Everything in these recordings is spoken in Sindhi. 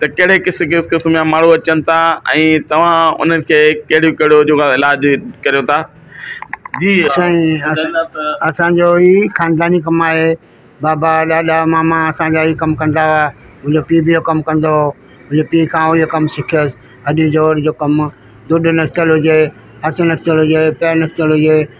ته ڪهڙي قسم قسم قسم جا ماڻهو اچن ٿا ۽ توهان انهن کي ڪهڙيون ڪهڙيون جيڪو آهي علاج ڪريو ٿا جي سائين اس اسان جو ئي خانداني ڪم آهي بابا ڏاڏا ماما اسان جا ئي ڪم ڪندا هئا منهنجو پي به اهو ڪم ڪندو هو منهنجي پي کان اهو ڪم سکيس هڏي جوڙ جو ڪم ڌوڏ نڪتل هجي هٿ نڪتل هجي پير نڪتل هجي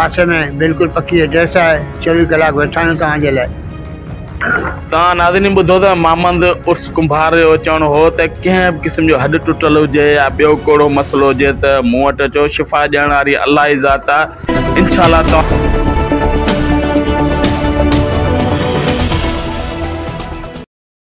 پاسي ۾ بلڪل پڪي ايڊريس آهي چوويهه ڪلاڪ ويٺا آهيون توهان جي لاء. توهان ناظرين ٻڌو ته مامند عرس ڪنڀار جو چوڻ هو ته ڪنهن به قسم جو هڏ ٽٽل هجي يا ٻيو ڪوڙو مسئلو هجي ته مون وٽ اچو شفا ڏيڻ واري الله ئي ذات آهي انشاء الله توهان